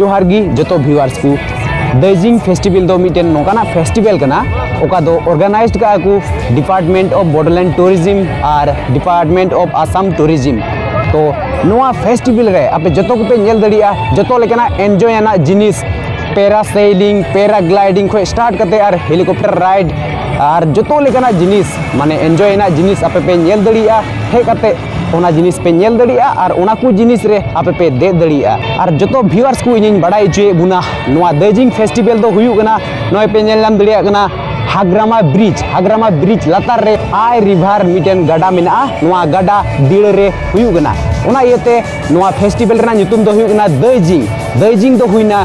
ᱡᱚᱦᱟᱨ ᱜᱮ ᱡᱚᱛᱚ ᱵᱷᱤᱣᱟᱨᱥ ᱠᱚ ᱫᱟᱹᱡᱤᱝ ᱯᱷᱮᱥᱴᱤᱵᱮᱞ ᱫᱚ ᱢᱤᱫᱴᱮᱱ ᱱᱚᱝᱠᱟᱱᱟᱜ ᱯᱷᱮᱥᱴᱤᱵᱮᱞ ᱠᱟᱱᱟ ᱚᱠᱟ ᱫᱚ ᱚᱨᱜᱟᱱᱟᱭᱤᱡᱽᱰ ᱠᱟᱜᱼᱟ ᱠᱚ ᱰᱤᱯᱟᱨᱴᱢᱮᱱᱴ ᱚᱯᱷ ᱵᱚᱰᱳᱞᱮᱱᱰ ᱴᱩᱨᱤᱡᱤᱢ ᱟᱨ ᱰᱤᱯᱟᱨᱴᱢᱮᱱᱴ ᱚᱯᱷ ᱟᱥᱟᱢ ᱴᱩᱨᱤᱡᱤᱢ ᱛᱚ ᱱᱚᱣᱟ ᱯᱷᱮᱥᱴᱤᱵᱮᱞ ᱨᱮ ᱟᱯᱮ ᱡᱚᱛᱚ ᱠᱚᱯᱮ ᱧᱮᱞ ᱫᱟᱲᱮᱭᱟᱜᱼᱟ ᱡᱚᱛᱚ ᱞᱮᱠᱟᱱᱟᱜ ᱮᱱᱡᱚᱭ ᱟᱱᱟᱜ ᱡᱤᱱᱤᱥ ᱯᱮᱨᱟᱥᱮᱞᱤᱝ ᱯᱮᱨᱟᱜᱞᱟᱭᱰᱤᱝ ᱠᱷᱚᱱ ᱥᱴᱟᱨᱴ ᱠᱟᱛᱮ ᱟᱨ ᱦᱮᱞᱤᱠᱚᱯᱴᱟᱨ ᱨᱟᱭᱤᱰ ᱟᱨ ᱡᱚᱛᱚ ᱞᱮᱠᱟᱱᱟᱜ ᱡᱤᱱᱤᱥ ᱢᱟᱱᱮ ᱮᱱᱡᱚᱭ ᱟᱱᱟᱜ ᱡᱤᱱᱤᱥ ᱟᱯᱮ ᱯᱮ ᱧᱮᱞ ᱫᱟᱲᱮᱭᱟᱜᱼᱟ ᱦᱮᱡ ᱠᱟᱛᱮ ᱚᱱᱟ ᱡᱤᱱᱤᱥ ᱯᱮ ᱧᱮᱞ ᱫᱟᱲᱮᱭᱟᱜᱼᱟ ᱟᱨ ᱚᱱᱟ ᱠᱚ ᱡᱤᱱᱤᱥ ᱨᱮ ᱟᱯᱮ ᱯᱮ ᱫᱮᱡ ᱫᱟᱲᱮᱭᱟᱜᱼᱟ ᱟᱨ ᱡᱚᱛᱚ ᱵᱷᱤᱣᱟᱨᱥ ᱠᱚ ᱤᱧᱤᱧ ᱵᱟᱰᱟᱭ ᱦᱚᱪᱚᱭᱮᱫ ᱵᱚᱱᱟ ᱱᱚᱣᱟ ᱫᱟᱹᱡᱤᱝ ᱯᱷᱮᱥᱴᱤᱵᱷᱮᱞ ᱫᱚ ᱦᱩᱭᱩᱜ ᱠᱟᱱᱟ ᱱᱚᱜᱼᱚᱭ ᱯᱮ ᱧᱮᱞ ᱧᱟᱢ ᱫᱟᱲᱮᱭᱟᱜ ᱠᱟᱱᱟ ᱦᱟᱜᱨᱟᱢᱟ ᱵᱨᱤᱡᱽ ᱦᱟᱜᱨᱟᱢᱟ ᱵᱨᱤᱡᱽ ᱞᱟᱛᱟᱨ ᱨᱮ ᱟᱭ ᱨᱤᱵᱷᱟᱨ ᱢᱤᱫᱴᱮᱱ ᱜᱟᱰᱟ ᱢᱮᱱᱟᱜᱼᱟ ᱱᱚᱣᱟ ᱜᱟᱰᱟ ᱫᱤᱲᱟᱹ ᱨᱮ ᱦᱩᱭᱩᱜ ᱠᱟᱱᱟ ᱚᱱᱟ ᱤᱭᱟᱹᱛᱮ ᱱᱚᱣᱟ ᱯᱷᱮᱥᱴᱤᱵᱷᱮᱞ ᱨᱮᱱᱟᱜ ᱧᱩᱛᱩᱢ ᱫᱚ ᱦᱩᱭᱩᱜ ᱠᱟᱱᱟ ᱫᱟᱹᱡᱤᱝ ᱫᱟᱹᱡᱤᱝ ᱫᱚ ᱦᱩᱭᱱᱟ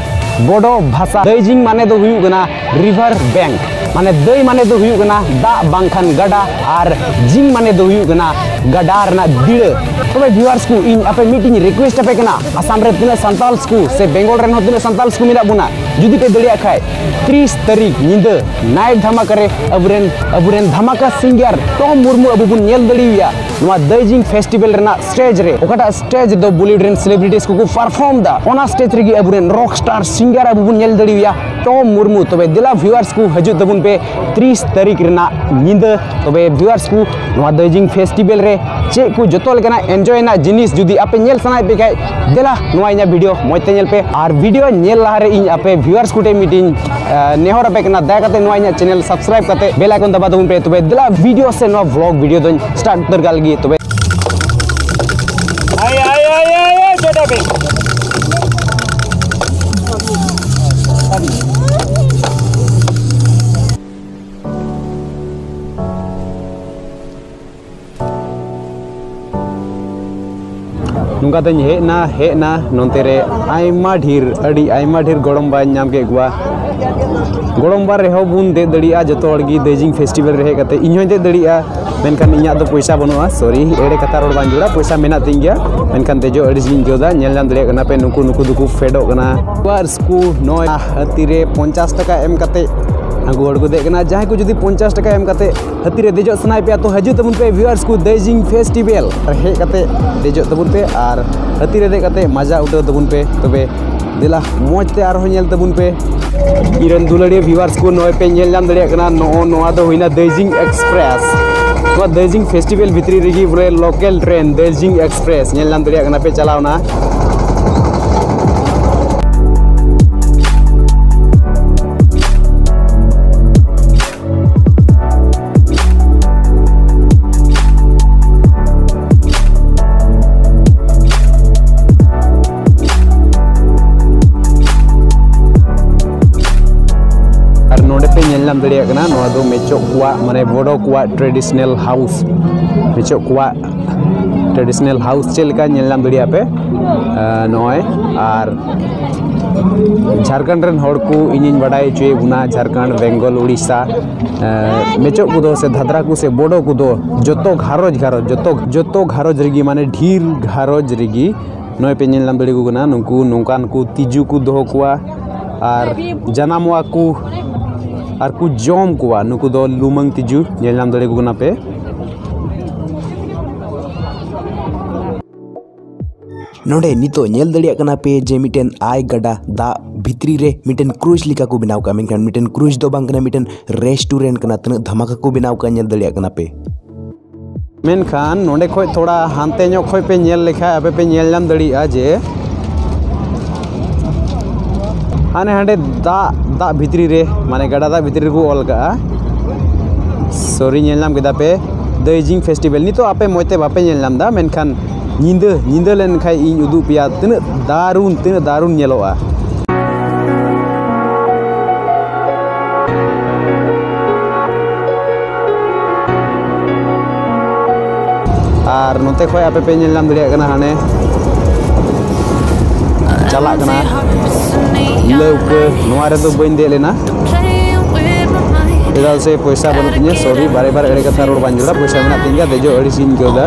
ᱵᱚᱰᱚ ᱵᱷᱟᱥᱟ ᱫᱟᱹᱡᱤᱝ ᱢᱟᱱᱮ ᱫᱚ ᱦᱩᱭᱩᱜ ᱠᱟᱱᱟ ᱨᱤᱵᱷᱟᱨ ᱵᱮᱝᱠ ᱢᱟᱱᱮ ᱫᱟᱹᱭ ᱢᱟᱱᱮ ᱫᱚ ᱦᱩᱭᱩᱜ ᱠᱟᱱᱟ ᱫᱟᱜ ᱵᱟᱝᱠᱷᱟᱱ ᱜᱟᱰᱟ ᱟᱨ ᱡᱤᱝ ᱢᱟᱱᱮ ᱫᱚ ᱦᱩᱭᱩᱜ ᱠᱟᱱᱟ ᱜᱟᱰᱟ ᱨᱮᱱᱟᱜ ᱫᱤᱲᱟᱹ ᱛᱚᱵᱮ ᱵᱷᱤᱣᱟᱨᱥ ᱠᱚ ᱤᱧ ᱟᱯᱮ ᱢᱤᱫᱴᱤᱧ ᱨᱤᱠᱣᱮᱥᱴ ᱟᱯᱮ ᱠᱟᱱᱟ ᱟᱥᱟᱢ ᱨᱮ ᱛᱤᱱᱟᱹᱜ ᱥᱟᱱᱛᱟᱞᱥ ᱠᱚ ᱥᱮ ᱵᱮᱝᱜᱚᱞ ᱨᱮᱱ ᱦᱚᱸ ᱛᱤᱱᱟᱹᱜ ᱥᱟᱱᱛᱟᱞᱥ ᱠᱚ ᱢᱮᱱᱟᱜ ᱵᱚᱱᱟ ᱡᱩᱫᱤ ᱯᱮ ᱫᱟᱲᱮᱭᱟᱜ ᱠᱷᱟᱡ ᱛᱤᱨᱤᱥ ᱛᱟᱹᱨᱤᱠᱷ ᱧᱤᱫᱟᱹ ᱱᱟᱭᱤᱴ ᱫᱷᱟᱢᱟᱠᱟ ᱨᱮ ᱟᱵᱚᱨᱮᱱ ᱟᱵᱚᱨᱮᱱ ᱫᱷᱟᱢᱟᱠᱟ ᱥᱤᱝᱜᱟᱨ ᱴᱚᱢ ᱢᱩᱨᱢᱩ ᱟᱵᱚ ᱵᱚᱱ ᱧᱮᱞ ᱫᱟᱲᱮᱭᱟᱭᱟ ᱱᱚᱣᱟ ᱫᱟᱹᱭᱡᱤᱝ ᱯᱷᱮᱥᱴᱤᱵᱮᱞ ᱨᱮᱱᱟᱜ ᱥᱴᱮᱡᱽ ᱨᱮ ᱚᱠᱟᱴᱟᱜ ᱥᱴᱮᱡᱽ ᱫᱚ ᱵᱚᱞᱤᱣᱩᱰ ᱨᱮᱱ ᱥᱮᱞᱮᱵᱨᱤᱴᱤᱥ ᱠᱚᱠᱚ ᱯᱟᱨᱯᱷᱚᱨᱢ ᱫᱟ ᱚᱱᱟ ᱥᱴᱮᱡᱽ ᱨᱮᱜᱮ ᱟᱵᱚᱨᱮᱱ ᱨᱚᱠ ᱥᱴᱟᱨ ᱥᱤᱝᱜᱟᱨ ᱟᱵᱚ ᱵᱚᱱ ᱧᱮᱞ ᱫᱟᱲᱮᱭᱟᱭᱟ ᱴᱚᱢ ᱢᱩᱨᱢᱩ ᱛᱚᱵᱮ ᱫᱮᱞᱟ ᱵᱷᱤᱣᱟᱨᱥ ᱠᱚ ᱦᱤᱡᱩᱜ ᱛᱟᱵᱚᱱ ᱯᱮ ᱛᱤᱨᱤᱥ ᱛᱟᱹᱨᱤᱠᱷ ᱨᱮᱱᱟᱜ ᱧᱤᱫᱟᱹ ᱛᱚᱵᱮ ᱵᱷᱤᱣᱟᱨᱥ ᱠᱚ ᱱᱚᱣᱟ ᱫᱟᱨᱡᱤᱞᱤᱝ ᱯᱷᱮᱥᱴᱤᱵᱮᱞ ᱨᱮ ᱪᱮᱫ ᱠᱚ ᱡᱚᱛᱚ ᱞᱮᱠᱟᱱᱟᱜ ᱮᱱᱡᱚᱭ ᱨᱮᱱᱟᱜ ᱡᱤᱱᱤᱥ ᱡᱩᱫᱤ ᱟᱯᱮ ᱧᱮᱞ ᱥᱟᱱᱟᱭᱮᱫ ᱯᱮ ᱠᱷᱟᱡ ᱫᱮᱞᱟ ᱱᱚᱣᱟ ᱤᱧᱟᱹᱜ ᱵᱷᱤᱰᱤᱭᱳ ᱢᱚᱡᱽ ᱛᱮ ᱧᱮᱞ ᱯᱮ ᱟᱨ ᱵᱷᱤᱰᱤᱭᱳ ᱧᱮᱞ ᱞᱟᱦᱟᱨᱮ ᱤᱧ ᱟᱯᱮ ᱵᱷᱤᱣᱟᱨᱥ ᱠᱚᱴᱷᱮᱱ ᱢᱤᱫᱴᱤᱧ ᱱᱮᱦᱚᱨ ᱟᱯᱮ ᱠᱟᱱᱟ ᱫᱟᱭᱟ ᱠᱟᱛᱮ ᱱᱚᱣᱟ ᱤᱧᱟᱹᱜ ᱪᱮᱱᱮᱞ ᱥᱟᱵᱥᱠᱨᱟᱭᱤᱵ ᱠᱟᱛᱮ ᱵᱮᱞ ᱟᱭᱠᱚᱱ ᱫᱟᱵᱟ ᱛᱟᱵᱚᱱ ᱯᱮ ᱛᱚᱵᱮ ᱫᱮᱞᱟ ᱵᱷᱤᱰᱤᱭᱳ ᱥᱮ ᱱᱚᱣᱟ ᱵᱷᱞᱚᱜ ᱵᱷᱤᱰᱤᱭᱳ ᱫᱚᱧ ᱥᱴᱟᱨᱴ ᱩᱛᱟᱹᱨ ᱠᱟᱜ ᱞᱟᱹᱜᱤᱫ ᱛᱚᱵᱮ ᱱᱚᱝᱠᱟ ᱛᱮᱧ ᱦᱮᱡ ᱮᱱᱟ ᱦᱮᱡ ᱮᱱᱟ ᱱᱚᱱᱛᱮ ᱨᱮ ᱟᱭᱢᱟ ᱰᱷᱮᱨ ᱟᱹᱰᱤ ᱟᱭᱢᱟ ᱰᱷᱮᱨ ᱜᱚᱲᱚᱢ ᱵᱟᱧ ᱧᱟᱢ ᱠᱮᱫ ᱠᱚᱣᱟ ᱜᱚᱲᱚᱢ ᱵᱟ ᱨᱮᱦᱚᱸ ᱵᱚᱱ ᱫᱮᱡ ᱫᱟᱲᱮᱭᱟᱜᱼᱟ ᱡᱚᱛᱚ ᱦᱚᱲ ᱜᱮ ᱫᱟᱹᱭᱡᱤᱝ ᱯᱷᱮᱥᱴᱤᱵᱷᱮᱞ ᱨᱮ ᱦᱮᱡ ᱠᱟᱛᱮᱫ ᱤᱧ ᱦᱚᱸᱧ ᱫᱮᱡ ᱫᱟᱲᱮᱭᱟᱜᱼᱟ ᱢᱮᱱᱠᱷᱟᱱ ᱤᱧᱟᱹᱜ ᱫᱚ ᱯᱚᱭᱥᱟ ᱵᱟᱹᱱᱩᱜᱼᱟ ᱥᱚᱨᱤ ᱮᱲᱮ ᱠᱟᱛᱷᱟ ᱨᱚᱲ ᱵᱟᱝ ᱡᱩᱲᱟ ᱯᱚᱭᱥᱟ ᱢᱮᱱᱟᱜ ᱛᱤᱧ ᱜᱮᱭᱟ ᱢᱮᱱᱠᱷᱟᱱ ᱫᱮᱡᱚᱜ ᱟᱹᱲᱤᱥ ᱜᱤᱧ ᱟᱹᱭᱠᱟᱹᱣ ᱮᱫᱟ ᱧᱮᱞ ᱧᱟᱢ ᱫᱟᱲᱮᱭᱟᱜ ᱠᱟᱱᱟ ᱯᱮ ᱱᱩᱠᱩ ᱱᱩᱠᱩ ᱫᱚᱠᱚ ᱯᱷᱮᱰᱚᱜ ᱠᱟᱱᱟ ᱟᱵᱟᱨ ᱥᱠᱩ ᱱᱚᱭ ᱦᱟᱹᱛᱤ ᱨᱮ ᱯᱚᱧᱪᱟᱥ ᱴᱟᱠᱟ ᱮᱢ ᱠᱟᱛᱮ ᱟᱹᱜᱩ ᱦᱚᱲ ᱠᱚ ᱫᱮᱡ ᱠᱟᱱᱟ ᱡᱟᱦᱟᱸᱭ ᱠᱚ ᱡᱩᱫᱤ ᱯᱚᱧᱪᱟᱥ ᱴᱟᱠᱟ ᱮᱢ ᱠᱟᱛᱮ ᱦᱟᱹᱛᱤ ᱨᱮ ᱫᱮᱡᱚᱜ ᱥᱟᱱᱟᱭᱮᱫ ᱯᱮᱭᱟ ᱛᱚ ᱦᱤᱡᱩᱜ ᱛᱟᱵᱚᱱ ᱯᱮ ᱵᱷᱤᱣᱟᱨᱥ ᱠᱚ ᱫᱟᱨᱡᱤᱞᱤᱝ ᱯᱷᱮᱥᱴᱤᱵᱷᱮᱞ ᱦᱮᱡ ᱠᱟᱛᱮ ᱫᱮᱡᱚᱜ ᱛᱟᱵᱚᱱ ᱯᱮ ᱟᱨ ᱦᱟᱹᱛᱤ ᱨᱮ ᱫᱮᱡ ᱠᱟᱛᱮ ᱢᱟᱡᱟ ᱩᱴᱷᱟᱹᱣ ᱛᱟᱵᱚᱱ ᱯᱮ ᱛᱚᱵᱮ ᱫᱮᱞᱟ ᱢᱚᱡᱽ ᱛᱮ ᱟᱨᱦᱚᱸ ᱧᱮᱞ ᱛᱟᱵᱚᱱ ᱯᱮ ᱤᱨᱟᱱ ᱫᱩᱞᱟᱹᱲᱤᱭᱟᱹ ᱵᱷᱤᱣᱟᱨᱥ ᱠᱚ ᱱᱚᱜᱼᱚᱭ ᱯᱮ ᱧᱮᱞ ᱧᱟᱢ ᱫᱟᱲᱮᱭᱟᱜ ᱠᱟᱱᱟ ᱱᱚᱜᱼᱚ ᱱᱚᱣᱟ ᱫᱚ ᱦᱩᱭᱱᱟ ᱫᱟᱨᱡᱤᱝ ᱮᱠᱥᱯᱨᱮᱥ ᱱᱚᱣᱟ ᱫᱟᱨᱡᱤᱝ ᱯᱷᱮᱥᱴᱤᱵᱷᱮᱞ ᱵᱷᱤᱛᱨᱤ ᱨᱮᱜᱮ ᱵᱚᱞᱮ ᱞᱳᱠᱮᱞ ᱴᱨᱮᱱ ᱫᱟᱨᱡᱤᱝ ᱮᱠᱥᱯᱨᱮᱥ ᱧᱮᱞ ᱧᱟᱢ ᱫᱟᱲᱮᱭᱟᱜ ᱠᱟᱱᱟ ᱯᱮ ᱪᱟᱞᱟᱣᱱᱟ ᱧᱟᱢ ᱫᱟᱲᱮᱭᱟᱜ ᱠᱟᱱᱟ ᱱᱚᱣᱟ ᱫᱚ ᱢᱮᱪᱚᱜ ᱠᱚᱣᱟᱜ ᱢᱟᱱᱮ ᱵᱚᱰᱚ ᱠᱚᱣᱟᱜ ᱴᱨᱮᱰᱤᱥᱚᱱᱟᱞ ᱦᱟᱣᱩᱥ ᱢᱮᱪᱚᱜ ᱠᱚᱣᱟᱜ ᱴᱨᱮᱰᱤᱥᱚᱱᱟᱞ ᱦᱟᱣᱩᱥ ᱪᱮᱫ ᱞᱮᱠᱟ ᱧᱮᱞ ᱧᱟᱢ ᱫᱟᱲᱮᱭᱟᱜ ᱯᱮ ᱱᱚᱜᱼᱚᱭ ᱟᱨ ᱡᱷᱟᱲᱠᱷᱚᱸᱰ ᱨᱮᱱ ᱦᱚᱲ ᱠᱚ ᱤᱧᱤᱧ ᱵᱟᱰᱟᱭ ᱦᱚᱪᱚᱭᱮᱫ ᱵᱚᱱᱟ ᱡᱷᱟᱲᱠᱷᱚᱸᱰ ᱵᱮᱝᱜᱚᱞ ᱩᱲᱤᱥᱥᱟ ᱢᱮᱪᱚᱜ ᱠᱚᱫᱚ ᱥᱮ ᱫᱷᱟᱫᱨᱟ ᱠᱚ ᱥᱮ ᱵᱳᱰᱳ ᱠᱚᱫᱚ ᱡᱚᱛᱚ ᱜᱷᱟᱨᱚᱸᱡᱽ ᱜᱷᱟᱨᱚᱸᱡᱽ ᱡᱚᱛᱚ ᱡᱚᱛᱚ ᱜᱷᱟᱨᱚᱸᱡᱽ ᱨᱮᱜᱮ ᱢᱟᱱᱮ ᱰᱷᱮᱨ ᱜᱷᱟᱨᱚᱸᱡᱽ ᱨᱮᱜᱮ ᱱᱚᱜᱼᱚᱭ ᱯᱮ ᱧᱮᱞ ᱧᱟᱢ ᱫᱟᱲᱮᱭᱟᱠᱚ ᱠᱟᱱᱟ ᱱᱩᱠᱩ ᱱᱚᱝᱠᱟᱱ ᱠᱚ ᱛᱤᱡᱩ ᱠᱚ ᱫᱚᱦᱚ ᱠᱚᱣᱟ ᱟᱨ ᱡᱟᱱᱟᱢᱚᱜᱼᱟ ᱠᱚ ᱟᱨ ᱠᱚ ᱡᱚᱢ ᱠᱚᱣᱟ ᱱᱩᱠᱩ ᱫᱚ ᱞᱩᱢᱟᱹᱝ ᱛᱤᱡᱩ ᱧᱮᱞ ᱧᱟᱢ ᱫᱟᱲᱮᱭᱟᱠᱚ ᱠᱟᱱᱟ ᱯᱮ ᱱᱚᱰᱮ ᱱᱤᱛᱚᱜ ᱧᱮᱞ ᱫᱟᱲᱮᱭᱟᱜ ᱠᱟᱱᱟ ᱯᱮ ᱡᱮ ᱢᱤᱫᱴᱮᱱ ᱟᱭ ᱜᱟᱰᱟ ᱫᱟᱜ ᱵᱷᱤᱛᱨᱤ ᱨᱮ ᱢᱤᱫᱴᱮᱱ ᱠᱨᱩᱡᱽ ᱞᱮᱠᱟ ᱠᱚ ᱵᱮᱱᱟᱣ ᱠᱟᱜᱼᱟ ᱢᱮᱱᱠᱷᱟᱱ ᱢᱤᱫᱴᱮᱱ ᱠᱨᱩᱡᱽ ᱫᱚ ᱵᱟᱝ ᱠᱟᱱᱟ ᱢᱤᱫᱴᱮᱱ ᱨᱮᱥᱴᱩᱨᱮᱱᱴ ᱠᱟᱱᱟ ᱛᱤᱱᱟᱹᱜ ᱫᱷᱟᱢᱟᱠᱟ ᱠᱚ ᱵᱮᱱᱟᱣ ᱠᱟᱜᱼᱟ ᱧᱮᱞ ᱫᱟᱲᱮᱭᱟᱜ ᱠᱟᱱᱟ ᱯᱮ ᱢᱮᱱᱠᱷᱟᱱ ᱱᱚᱰᱮ ᱠᱷᱚᱡ ᱛᱷᱚᱲᱟ ᱦᱟᱱᱛᱮ ᱧᱚᱜ ᱠᱷᱚᱡ ᱯᱮ ᱧᱮᱞ ᱞᱮᱠᱷᱟᱡ ᱟᱯᱮ ᱯᱮ ᱧᱮᱞ ᱧᱟᱢ ᱫᱟᱲᱮᱭᱟᱜᱼᱟ ᱡᱮ ᱦᱟᱱᱮ ᱦᱟᱸᱰᱮ ᱫᱟᱜ ᱫᱟᱜ ᱵᱷᱤᱛᱨᱤ ᱨᱮ ᱢᱟᱱᱮ ᱜᱟᱰᱟ ᱫᱟᱜ ᱵᱷᱤᱛᱨᱤ ᱨᱮᱠᱚ ᱚᱞ ᱠᱟᱜᱼᱟ ᱥᱚᱨᱤ ᱧᱮᱞ ᱧᱟᱢ ᱠᱮᱫᱟ ᱯᱮ ᱫᱟᱹᱭᱡᱤᱝ ᱯᱷᱮᱥᱴᱤᱵᱷᱮᱞ ᱱᱤᱛᱚᱜ ᱟᱯᱮ ᱢᱚᱡᱽ ᱛᱮ ᱵᱟᱯᱮ ᱧᱮᱞ ᱧᱟᱢᱫᱟ ᱢᱮᱱᱠᱷᱟᱱ ᱧᱤᱫᱟᱹ ᱧᱤᱫᱟᱹ ᱞᱮᱱᱠᱷᱟᱡ ᱤᱧ ᱩᱫᱩᱜ ᱯᱮᱭᱟ ᱛᱤᱱᱟᱹᱜ ᱫᱟᱨᱩᱱ ᱛᱤᱱᱟᱹᱜ ᱫᱟᱨᱩᱱ ᱧᱮᱞᱚᱜᱼᱟ ᱟᱨ ᱱᱚᱛᱮ ᱠᱷᱚᱡ ᱟᱯᱮ ᱯᱮ ᱧᱮᱞ ᱧᱟᱢ ᱫᱟᱲᱮᱭᱟᱜ ᱠᱟᱱᱟ ᱦᱟᱱᱮ ᱪᱟᱞᱟᱜ ᱠᱟᱱᱟ ᱞᱟᱹᱣᱠᱟᱹ ᱱᱚᱣᱟ ᱨᱮᱫᱚ ᱵᱟᱹᱧ ᱫᱮᱡ ᱞᱮᱱᱟ ᱪᱮᱫᱟᱜ ᱥᱮ ᱯᱚᱭᱥᱟ ᱵᱟᱹᱱᱩᱜ ᱛᱤᱧᱟᱹ ᱥᱚᱨᱤ ᱵᱟᱨᱮ ᱵᱟᱨᱮ ᱮᱲᱮ ᱠᱟᱛᱷᱟ ᱨᱚᱲ ᱵᱟᱝ ᱡᱟᱹᱨᱩᱲᱟ ᱯᱚᱭᱥᱟ ᱢᱮᱱᱟᱜ ᱛᱤᱧ ᱜᱮᱭᱟ ᱫᱮᱡᱚᱜ ᱟᱹᱲᱤᱥᱤᱧ ᱟᱹᱭᱠᱟᱹᱣᱫᱟ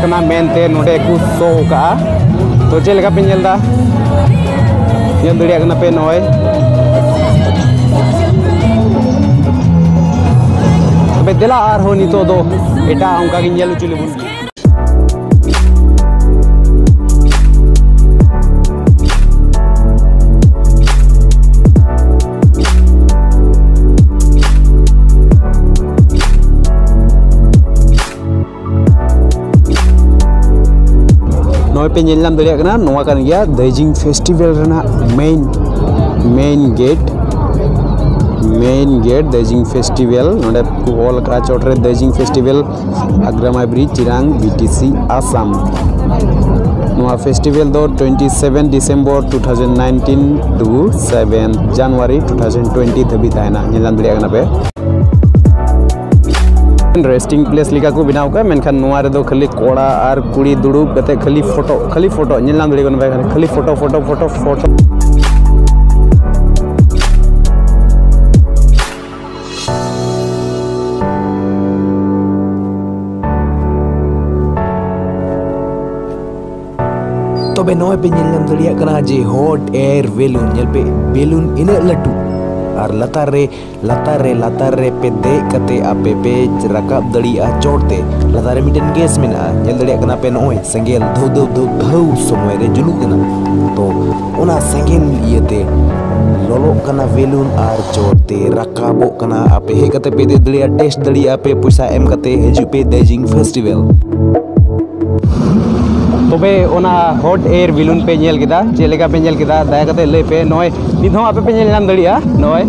ᱠᱟᱱᱟ ᱢᱮᱱᱛᱮ ᱱᱚᱰᱮ ᱠᱚ ᱥᱳ ᱠᱟᱜᱼᱟ ᱛᱚ ᱪᱮᱫ ᱞᱮᱠᱟ ᱯᱮ ᱧᱮᱞ ᱮᱫᱟ ᱧᱮᱞ ᱫᱟᱲᱮᱭᱟᱜ ᱠᱟᱱᱟ ᱯᱮ ᱱᱚᱜᱼᱚᱭ ᱛᱚᱵᱮ ᱫᱮᱞᱟ ᱟᱨᱦᱚᱸ ᱱᱤᱛᱚᱜ ᱫᱚ ᱮᱴᱟᱜ ᱚᱱᱠᱟ ᱜᱮ ᱧᱮᱞ ᱦᱚᱪᱚ ᱞᱮᱵᱚᱱ ᱜᱮ ᱱᱚᱜᱼᱚᱭ ᱯᱮ ᱧᱮᱞ ᱧᱟᱢ ᱫᱟᱲᱮᱭᱟᱜ ᱠᱟᱱᱟ ᱱᱚᱣᱟ ᱠᱟᱱ ᱜᱮᱭᱟ ᱫᱟᱹᱭᱡᱤᱝ ᱯᱷᱮᱥᱴᱤᱵᱷᱮᱞ ᱨᱮᱱᱟᱜ ᱢᱮᱱ ᱢᱮᱱ ᱜᱮᱴ ᱢᱮᱱ ᱜᱮᱴ ᱫᱟᱹᱭᱡᱤᱝ ᱯᱷᱮᱥᱴᱤᱵᱷᱮᱞ ᱱᱚᱰᱮ ᱠᱚ ᱚᱞ ᱠᱟᱜᱼᱟ ᱪᱚᱴ ᱨᱮ ᱫᱟᱹᱭᱡᱤᱝ ᱯᱷᱮᱥᱴᱤᱵᱷᱮᱞ ᱟᱜᱽᱨᱟᱢᱟᱭ ᱵᱨᱤᱡᱽ ᱪᱤᱨᱟᱝ ᱵᱤᱴᱤᱥᱤ ᱟᱥᱟᱢ ᱱᱚᱣᱟ ᱯᱷᱮᱥᱴᱤᱵᱷᱮᱞ ᱫᱚ twenty seven December two thousand nineteen to seven January two thousand twenty ᱫᱷᱟᱹᱵᱤᱡ ᱛᱟᱦᱮᱱᱟ ᱧᱮᱞ ᱧᱟᱢ ᱫᱟᱲᱮᱭᱟᱜ ᱠᱟᱱᱟ ᱯᱮ ᱨᱮᱥᱴᱤᱝ ᱯᱞᱮᱥ ᱞᱮᱠᱟ ᱠᱚ ᱵᱮᱱᱟᱣ ᱠᱟᱜᱼᱟ ᱢᱮᱱᱠᱷᱟᱱ ᱱᱚᱣᱟ ᱨᱮᱫᱚ ᱠᱷᱟᱹᱞᱤ ᱠᱚᱲᱟ ᱟᱨ ᱠᱩᱲᱤ ᱫᱩᱲᱩᱵ ᱠᱟᱛᱮ ᱠᱷᱟᱹᱞᱤ ᱯᱷᱳᱴᱳ ᱠᱷᱟᱹᱞᱤ ᱯᱷᱳᱴᱳ ᱧᱮᱞ ᱧᱟᱢ ᱫᱟᱲᱮᱭᱟᱜ ᱠᱟᱱᱟ ᱠᱷᱟᱹᱞᱤ ᱯᱷᱳᱴᱳ ᱯᱷᱳᱴᱳ ᱯᱷᱳᱴᱳ ᱯᱷᱳᱴᱳ ᱛᱚᱵᱮ ᱱᱚᱜᱼᱚᱭ ᱯᱮ ᱧᱮᱞ ᱧᱟᱢ ᱫᱟᱲᱮᱭᱟᱜ ᱠᱟᱱᱟ ᱡᱮ ᱦᱚᱴ ᱮᱭᱟᱨ ᱵᱮᱞᱩᱱ ᱧᱮᱞ ᱯᱮ ᱵᱮᱞᱩᱱ ᱤᱱᱟᱹᱜ ᱞᱟᱹᱴᱩ ᱟᱨ ᱞᱟᱛᱟᱨ ᱨᱮ ᱞᱟᱛᱟᱨ ᱨᱮ ᱞᱟᱛᱟᱨ ᱨᱮ ᱯᱮ ᱫᱮᱡ ᱠᱟᱛᱮ ᱟᱯᱮ ᱯᱮ ᱨᱟᱠᱟᱵ ᱫᱟᱲᱮᱭᱟᱜᱼᱟ ᱪᱚᱴ ᱛᱮ ᱞᱟᱛᱟᱨ ᱨᱮ ᱢᱤᱫᱴᱮᱱ ᱜᱮᱥ ᱢᱮᱱᱟᱜᱼᱟ ᱧᱮᱞ ᱫᱟᱲᱮᱭᱟᱜ ᱠᱟᱱᱟ ᱯᱮ ᱱᱚᱜᱼᱚᱭ ᱥᱮᱸᱜᱮᱞ ᱫᱷᱟᱹᱣ ᱫᱷᱟᱹᱣ ᱫᱷᱟᱹᱣ ᱫᱷᱟᱹᱣ ᱥᱚᱢᱚᱭ ᱨᱮ ᱡᱩᱞᱩᱜ ᱠᱟᱱᱟ ᱛᱚ ᱚᱱᱟ ᱥᱮᱸᱜᱮᱞ ᱤᱭᱟᱹᱛᱮ ᱞᱚᱞᱚᱜ ᱠᱟᱱᱟ ᱵᱮᱞᱩᱱ ᱟᱨ ᱪᱚᱴ ᱛᱮ ᱨᱟᱠᱟᱵᱚᱜ ᱠᱟᱱᱟ ᱟᱯᱮ ᱦᱮᱡ ᱠᱟᱛᱮ ᱯᱮ ᱫᱮᱡ ᱫᱟᱲᱮᱭᱟᱜᱼᱟ ᱴᱮᱥᱴ ᱫᱟᱲᱮᱭᱟᱜᱼᱟ ᱯᱮ ᱯᱚᱭᱥᱟ ᱮᱢ ᱠᱟᱛᱮ ᱦᱤᱡᱩᱜ ᱯᱮ ᱫᱟᱨᱡᱤᱞᱤᱝ ᱯᱷᱮᱥᱴᱤᱵᱷᱮᱞ ᱛᱚᱵᱮ ᱚᱱᱟ ᱦᱚᱴ ᱮᱭᱟᱨ ᱵᱮᱞᱩᱱ ᱯᱮ ᱧᱮᱞ ᱠᱮᱫᱟ ᱪᱮᱫ ᱞᱮᱠᱟ ᱯᱮ ᱧᱮᱞ ᱠᱮᱫᱟ ᱫᱟᱭᱟ ᱠᱟᱛᱮ ᱞᱟᱹᱭ ᱯᱮ ᱱᱚᱜᱼᱚᱭ ᱱᱤᱛ ᱦᱚᱸ ᱟᱯᱮ ᱯᱮ ᱧᱮᱞ ᱧᱟᱢ ᱫᱟᱲᱮᱭᱟᱜᱼᱟ ᱱᱚᱜᱼᱚᱭ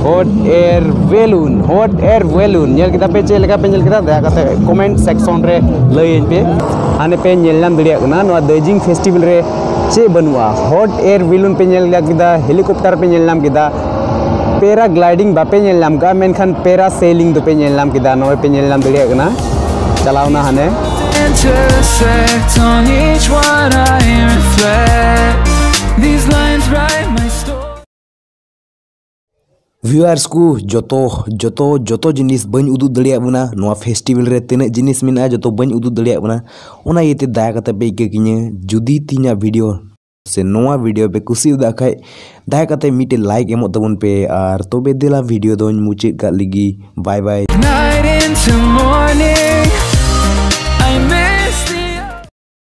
hot air balloon hot air balloon ᱧᱮᱞ ᱠᱮᱫᱟ ᱯᱮ ᱪᱮᱫ ᱞᱮᱠᱟ ᱯᱮ ᱧᱮᱞ ᱠᱮᱫᱟ ᱫᱟᱭᱟ ᱠᱟᱛᱮ ᱠᱚᱢᱮᱱᱴ ᱥᱮᱠᱥᱚᱱ ᱨᱮ ᱞᱟᱹᱭᱟᱹᱧ ᱯᱮ ᱦᱟᱱᱮ ᱯᱮ ᱧᱮᱞ ᱧᱟᱢ ᱫᱟᱲᱮᱭᱟᱜ ᱠᱟᱱᱟ ᱱᱚᱣᱟ ᱫᱟᱨᱡᱤᱞᱤᱝ ᱯᱷᱮᱥᱴᱤᱵᱷᱮᱞ ᱨᱮ ᱪᱮᱫ ᱵᱟᱹᱱᱩᱜᱼᱟ ᱦᱚᱴ ᱮᱭᱟᱨ ᱵᱮᱞᱩᱱ ᱯᱮ ᱧᱮᱞ ᱧᱟᱢ ᱠᱮᱫᱟ ᱦᱮᱞᱤᱠᱚᱯᱴᱟᱨ ᱯᱮ ᱧᱮᱞ ᱧᱟᱢ ᱠᱮᱫᱟ ᱯᱮᱨᱟ ᱜᱞᱟᱭᱰᱤᱝ ᱵᱟᱯᱮ ᱧᱮᱞ ᱧᱟᱢ ᱠᱟᱜᱼᱟ ᱢᱮᱱᱠᱷᱟᱱ ᱯᱮᱨᱟ ᱥᱮᱞᱤᱝ ᱫᱚᱯᱮ ᱧᱮᱞ ᱧᱟᱢ ᱠᱮᱫᱟ ᱱᱚᱜᱼᱚᱭ ᱯᱮ ᱧᱮᱞ ᱧᱟᱢ ᱫᱟᱲᱮᱭᱟᱜ ᱠᱟᱱᱟ ᱪᱟᱞᱟᱣᱱᱟ ᱦᱟᱱᱮ intersect on each one I reflect These lines write my story viewers ᱠᱚ ᱡᱚᱛᱚ ᱡᱚᱛᱚ ᱡᱚᱛᱚ ᱡᱤᱱᱤᱥ ᱵᱟᱹᱧ ᱩᱫᱩᱜ ᱫᱟᱲᱮᱭᱟᱜ ᱵᱚᱱᱟ ᱱᱚᱣᱟ ᱯᱷᱮᱥᱴᱤᱵᱮᱞ ᱨᱮ ᱛᱤᱱᱟᱹᱜ ᱡᱤᱱᱤᱥ ᱢᱮᱱᱟᱜᱼᱟ ᱡᱚᱛᱚ ᱵᱟᱹᱧ ᱩᱫᱩᱜ ᱫᱟᱲᱮᱭᱟᱜ ᱵᱚᱱᱟ ᱚᱱᱟ ᱤᱭᱟᱹᱛᱮ ᱫᱟᱭᱟ ᱠᱟᱛᱮ ᱯᱮ ᱤᱠᱟᱹ ᱠᱤᱧᱟᱹ ᱡᱩᱫᱤ ᱛᱤᱧᱟᱹᱜ ᱵᱷᱤᱰᱤᱭᱳ ᱥᱮ ᱱᱚᱣᱟ ᱵᱷᱤᱰᱤᱭᱳ ᱯᱮ ᱠᱩᱥᱤᱭᱟᱫᱟ ᱠᱷᱟᱡ ᱫᱟᱭᱟ ᱠᱟᱛᱮ ᱢᱤᱫᱴᱮᱱ ᱞᱟᱭᱤᱠ ᱮᱢᱚᱜ ᱛᱟᱵᱚᱱ ᱯᱮ ᱟᱨ ᱛᱚᱵᱮ ᱫᱮᱞᱟ ᱵᱷᱤᱰᱤᱭᱳ ᱫᱚᱧ ᱢᱩᱪᱟᱹᱫ ᱠᱟᱜ ᱞᱟᱹᱜᱤᱫ ᱵᱟᱭ ᱵᱟᱭ Night into morning